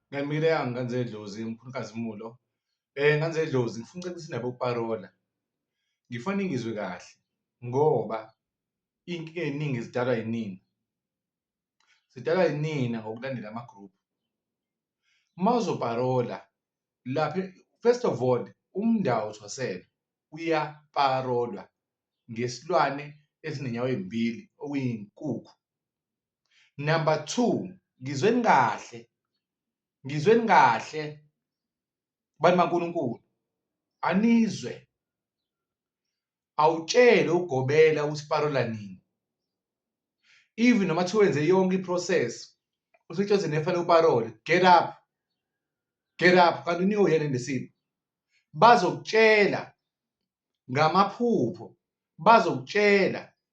Ngamile yami nganze idlozi mkhulukazi Mulo. Eh nganze idlozi ngifuna ucela ukuthi nabo parola. Ngifana ngizwe kahle ngoba inkinga eningi zidalwa yinina. Zidalwa yinina ngokulandela ama group. Mawuzo parola lapha first of all umndawo uthwasela uyaparolwa ngesilwane esinenyawo ezimbili okuyinkukhu. number two ngizweni kahle ngizweni kahle bantu baNkulunkulu anizwe awutshele ugobela usiparola nini even noma kuthiwa wenze yonke iprocess usitsheze nefanele uparole get up get up kanti unika uyena nesimo bazokutshela ngamaphupho bazokutshela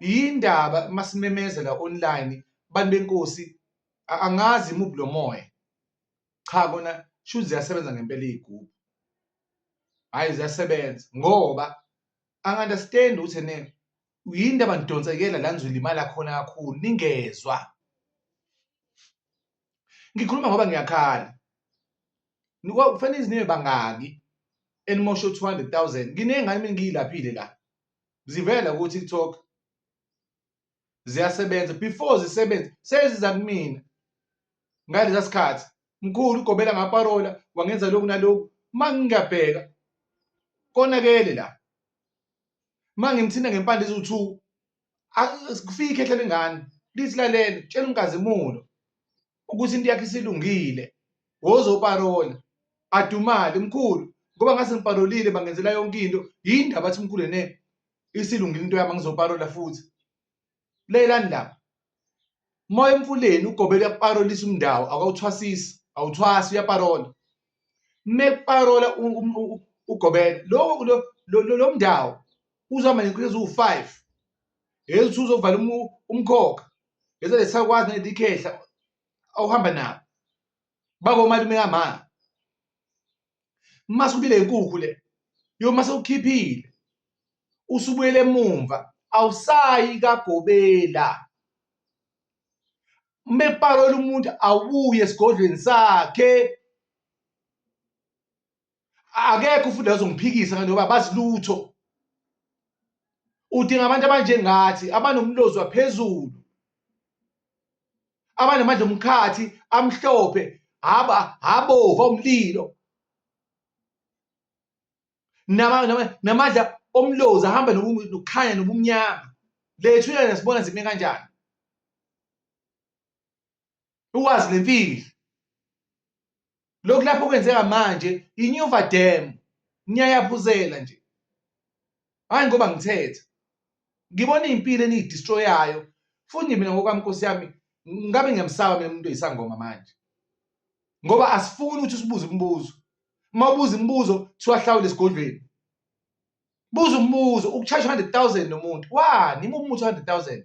yindaba masimemezela online bantu benkosi angazi imuphi lo moya cha kona shuthi ziyasebenza ngempela iy'gubhu hhayi ziyasebenza ngoba angi-understand ukuthi ene yini into abanidonsekela la nizolimala khona kakhulu ningezwa ngikhuluma ngoba ngiyakhala kufanele iziniwe bangaki elimoshe u-two hundred thousand nginengane mina ngiyilaphile la zivela ku TikTok ziyasebenza before zisebenze seziza kumina ngalesa sikhathi mkhulu ugobela ngaparola wangenza lokhu nalokhu uma ngingabheka konakele la uma ngimthinta ngempande eziwu-two kufike ikhehla lengane lithi lalele tshela umkazimulo ukuthi into yakhe isilungile wozoparola adumale mkhulu ngoba ngase ngiparolile bangenzela yonke into yini ndaba athi mkhulu ne isilungile into yami ngizoparola futhi leyelani laba moya emfuleni ugobela uyakuparolisa umndawo akawuthwasisi awuthwasi uyaparola mekuparola ugobela lokho lo mndawo uzama nenkrezi uwu-five hezi uthi uzovala umkhokha Bese lesakwazi nedikhehla awuhamba nabo. Bako malume kama. Mase ubile inkukhu le. Yo mase ukhiphile. Usubuyele emumva. Awusayi kagobela. Mepalo umuntu awuye esigodlweni sakhe. akekho futhi azongiphikisa ngani ngoba bazilutho udinga abantu abanjengathi abanomlozi waphezulu abanamandla omkhathi amhlophe haba habova umlilo namandla omlozi ahamba nokukhanya nobumnyama lethu yena sibona zime kanjani ukwazi le mfihlo lokhu lapho kwenzeka manje inyuva dam niyayaphuzela nje hayi ngoba ngithetha ngibona impilo eniyidestroyayo futhi mina ngokwami nkosi yami ngabe ngiyamsaba mina umuntu oyisangoma manje ngoba asifuni ukuthi sibuze imibuzo uma ubuza imibuzo siwahlawule esigodlweni buza umbuzo ukucharge 100000 nomuntu wani uma umuthi 100000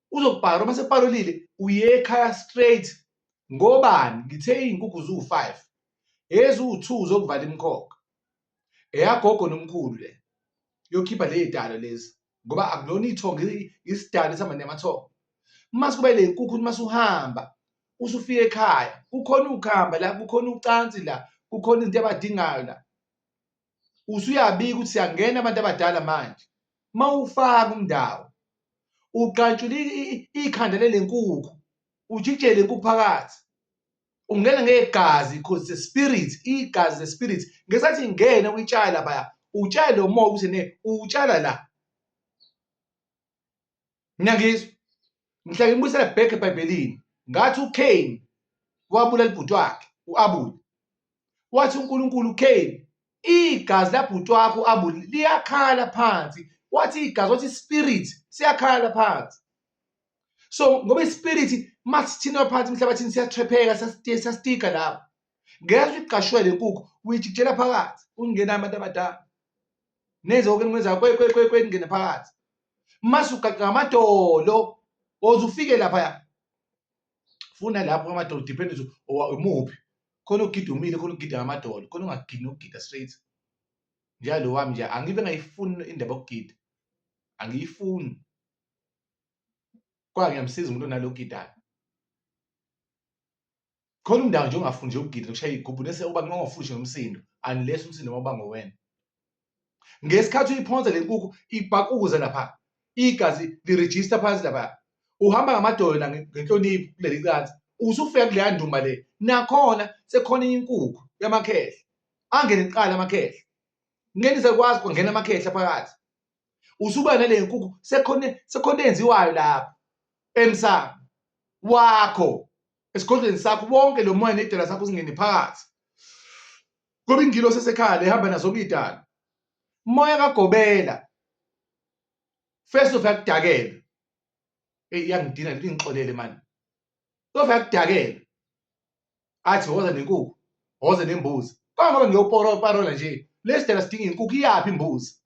uzokubhara uma separolile uye ekhaya straight ngobani ngithe iy'nkukhu ziwu-five eziwu-two zokuvala imkhokha eyagogo nomkhulu le yokhipha le y'dalo lezi ngoba akulona ithongo isidalo esihamba namathongo uma sikuba le nkukhu uma suhamba usufika ekhaya kukhona ukuhamba la kukhona ucansi la kukhona izinto abadingayo la usuyabika ukuthi siyangena abantu abadala manje mawufaka umndawo ugqantshula ikhanda lelenkukhu ujijele inkukhu phakathi ungena ngegazi because the spirit igazi the spirit ngesathi ingena uyitshala baya utshala lo moya ukuthi ne utshala la Niyangizwa? Ngihlale ngibuyisela back eBhayibhelini. Ngathi uCain wabulala ibhuti wakhe uAbel. Wathi uNkulunkulu uCain igazi labhuti wakho uAbel liyakhala phansi. Wathi igazi wathi spirit siyakhala phansi. So ngoba ispirit masithina phansi emhlabathini siyathrepheka siyastika lapho. Ngeke uyiqashwele inkukhu uyijikijela phakathi ungenami abantu abadala. nenze konke enikuwenzayo kwe kwe kwe kwe ningene phakathi mase ugaqa ngamadolo oze ufike lapha ya funa lapho ngamadolo depend umuphi khona ugida umile khona ugida ngamadolo khona ungagidi nokugida straight njalo wami nje angibe ngayifuni indaba yokugida angiyifuni kwa ngiyamsiza umuntu onalogidayo khona umndawo nje ongafuni nje ukugida nokushaya igubhu nese uba kungafushi nomsindo unless umsindo waba ngowena ngesikhathi uyiphonsa le nkukhu ibhakuza lapha igazi lirejista phansi lapha uhamba ngamadolo la ngenhlonipho kuleli cansi usufika kuleya ndumba le nakhona sekhona inkukhu yamakhehla angene kuqala amakhehla ngeke sakwazi kungena amakhehla phakathi usuba nale nkukhu sekhona sekhona enziwayo lapha emsamo wakho esigodlweni sakho bonke lo moya nedela sakho singene phakathi ngoba ingilo sesekhala ehamba nazo kuyidala moya kagobela first of yakudakela hey yangidina lithi ngixolele manje of yakudakela athi woza nenkukhu woza nembuzi kangoba ngiyoporo parola nje lesidela sidinga inkukhu iyaphi imbuzi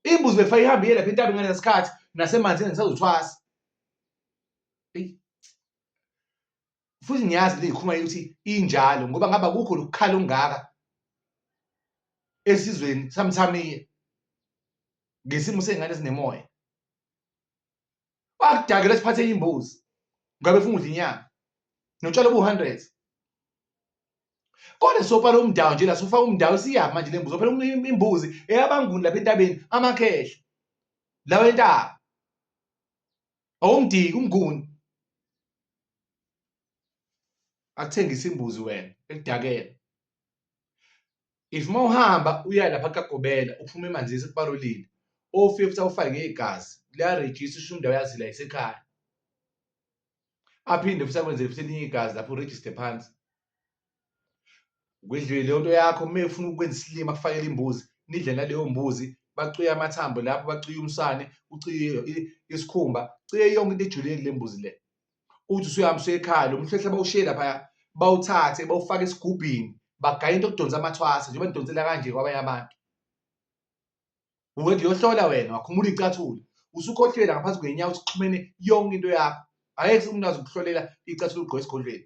imbuzi befa ihambe iyelapha intabi ngalesikhathi nasemanzini ngisazothwasa futhi ngiyazi leyikhuluma ukuthi injalo ngoba ngaba kukho lokukhala okungaka esizweni samthamiya ngesimo sey'ngane ezinemoya wakudakela siphathe imbuzi ngabe funa udla inyama notshalo obu-hundred kodwa sopala umdawu nje la sofaka umdawu siyaphi manje le mbuzi ophela imbuzi eyabanguni lapha entabeni amakhehla lawa entaba awumdiki umnguni akuthengisa imbuzi wena ekudakela if uma uhamba uya lapha kagobela uphuma emanzini sekubalulile ofika futhi awufake igazi liyarejista usho indawo yazi la isekhaya aphinde futhi akwenzele futhi elinye igazi lapho urejiste phansi Kwidlile leyo nto yakho uma efuna ukwenza isilima kufakele imbuzi nidle naleyo mbuzi bacuye amathambo lapho bacuye umsane uciye isikhumba ciye yonke into ejulile kule mbuzi le uthi usuyahamba usekhaya lo mhlehla bawushiye laphaya bawuthathe bawufake esigubhini bagaya into okudonsa amathwasa njengoba nidonsela kanje kwabanye abantu uwenza uyohlola wena wakhumula icathula usukhohlela ngaphansi kwenyawo sixhumene yonke into yakho ayekho umuntu azokuhlolela icathula ugqoke esigodlweni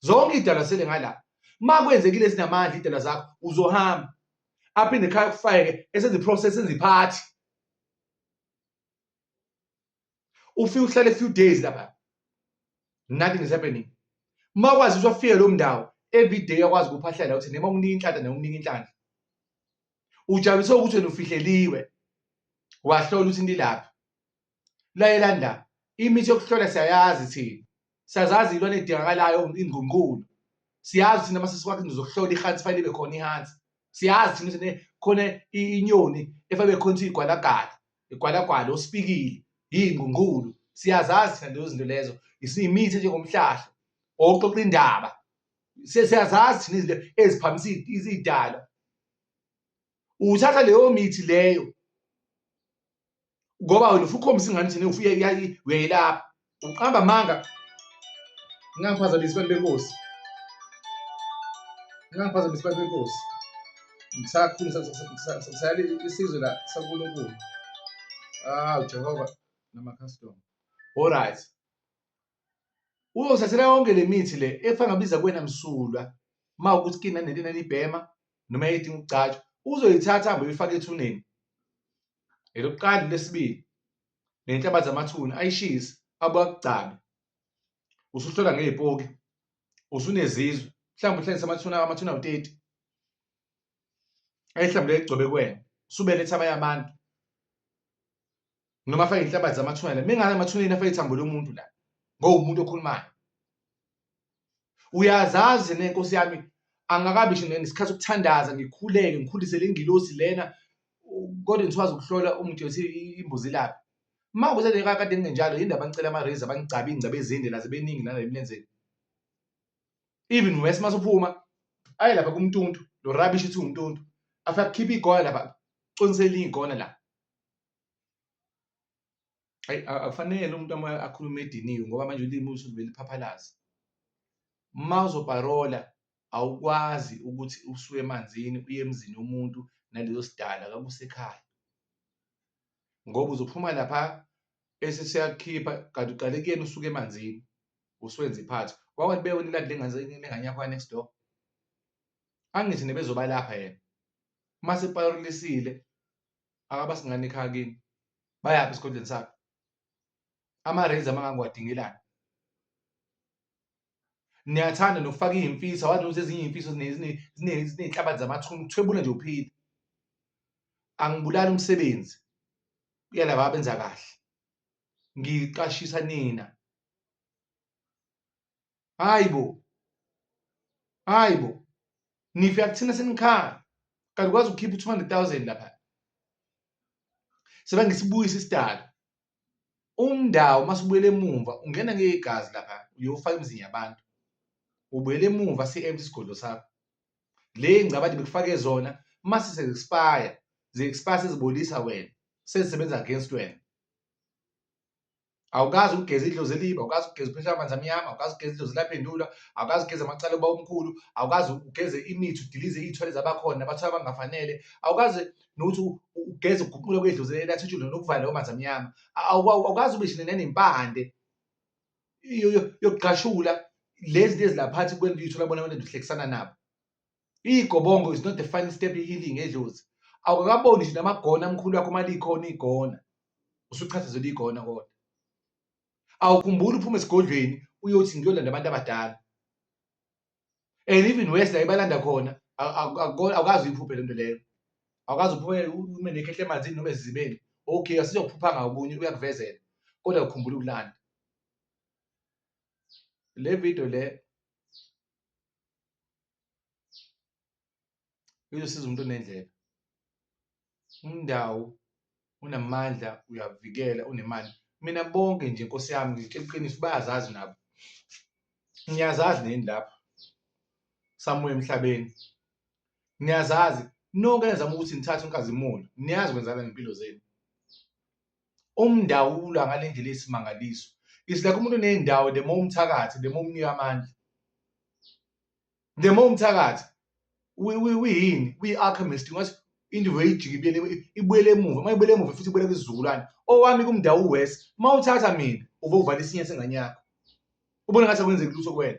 zonke idalwa sele ngala uma kwenzekile zinamandla idalwa zakho uzohamba aphinde ekhaya kufayeke esenze process enze iphathi ufike uhlale few days lapha nothing is happening uma kwazi ukuthi wafike lo mndawo every day akwazi ukuphahlela ukuthi noma umnika inhlanhla noma umnika inhlanhla ujabulise ukuthi wena ufihleliwe wahlola ukuthi nilaphi layelandani imithi yokuhlola siyayazi thina siyazazi ilwane edingakalayo ingqungqulo siyazi thina mase sikwakhe ngizokuhlola ihansi fanele ibe khona ihansi siyazi thina ukuthi khona inyoni efanele ibe khona igwalagala igwalagwala osipikile yingqungqulo siyazazi thina lezo zinto lezo isimithi njengomhlahla oxoxa indaba siyazazi thina izinto eziphamisa izidalwa uthatha leyo mithi leyo ngoba wena ufukhombisa ingane thina ufuye uyayilapha uqamba amanga ngingangiphazamisi abantu benkosi ngingangiphazamisi abantu benkosi ngisakhulu ngisayala isizwe la sankulunkulu awu jehova namakhastoma all right Uzothathela yonke le mithi le efana ngabiza kuwena msulwa uma ukuthi kina nento enanibhema noma yayidinga ukugcatshwa uzoyithatha hambe uyifake ethuneni elokuqala lesibili nenhlabathi zamathuna ayishise abuye akugcabe usuhlola ngey'poki usunezizwe mhlawumbe uhlangise amathuna amathuna awu-30 ayihlambule egcobe kwena subeletha abanye abantu noma afake inhlabathi zamathuna la mingane amathuneni afake ithambo lomuntu la ngowumuntu okhulumayo uyazazi nenkosi yami angakabi nje nesikhathi sokuthandaza ngikhuleke ngikhulise le ngilosi lena kodwa ngithwaza ukuhlola umuntu yothi imbuzi laphi uma kuze le kakade kungenjalo yini ndaba ngicela ama-raise abangigcabe iy'ngcaba ezinde naze beningi nala emlenzeni even wes uma suphuma aye lapha kumntuntu lo rubbish ithi umntuntu afike akhiphe igona lapha coniselini igona la ayi akufanele umuntu uma akhuluma ediniwe ngoba manje ulimi usuke beliphaphalaza uma uzoparola awukwazi ukuthi usuke emanzini uye emzini womuntu nalezo sidala kakusekhaya ngoba uzophuma lapha bese siyakukhipha kanti uqale kuyena usuke emanzini usuwenza iphathi wawathi bewena iladi lengane yakho next door angithi nebezobalapha yena uma sepayolisile akabasi ngane ekhaya kini bayaphi esigodlweni sakhe ama-raise amangangiwadingelani niyathanda nokufaka iy'mfisa wazi ukuthi ezinye iy'mfiso ziney'nhlabathi zamathuna ukuthwebula nje uphile angibulali umsebenzi uyalaba abenza kahle ngiqashisa nina hayi bo hayi bo nife akuthina senikhaya kanti kwazi ukukhipha 200000 lapha sebe ngisibuyisa isidalo umndawo masibuyele emumva ungena ngegazi lapha uyofaka imizini yabantu ubuyele emumva si-empty isigodlo sakho le ngcabade bekufake zona mase se-expire ze-expire sezibolisa wena sezisebenza against wena awukazi ukugeza idlozi eliba awukazi ukugeza uphesha amanzi amnyama awukazi ukugeza idlozi laphendula awukazi ukugeza amacala uba omkhulu awukazi ugeze imithi udilize iy'thwele zabakhona abathwala abangafanele awukazi nokuthi ugeze ukuguqula kwedlozi elathutshule nokuvala lawo manzi amnyama awukazi ube shine nanempande yokugqashula lezi lezi laphathi kwento uyithola bona abantu duhlekisana nabo Igobongo is not the final step healing edlozi. Awukakaboni nje namagona amkhulu akho malikhona igona. Usuchathazela igona kodwa. Awukhumbuli uphuma esigodlweni uyothi ngiyolanda abantu abadala. And even worse la ibalanda khona awukazi uyiphuphe lento leyo. Awukazi uphuphe ume nekhehle emanzini noma ezizibeni. Okay asizophupha ngakunye uyakuvezela. Kodwa ukhumbula ukulanda. Le video le izosiza umuntu onendlela umndawo unamandla uyavikela unemali mina bonke nje nkosi yami ngitshela iqiniso bayazazi nabo ngiyazazi nini lapha samuye emhlabeni niyazazi nonke nizama ukuthi nithathe unkazimulo niyazi kwenzakala ngempilo zenu umndawula ngale ndlela eyisimangaliso it's like umuntu uney'ndawo the more umthakathi the more umnika amandla the more umthakathi uyini uyi-alchemist ngathi into veyijike ibuyele emuva uma ibuyele emuva futhi ibuyele kwizizukulwane owami kumndawo uwes uma uthatha mina uve uvala isinye sengane yakho ubona ngathi akwenzeki lutho kwena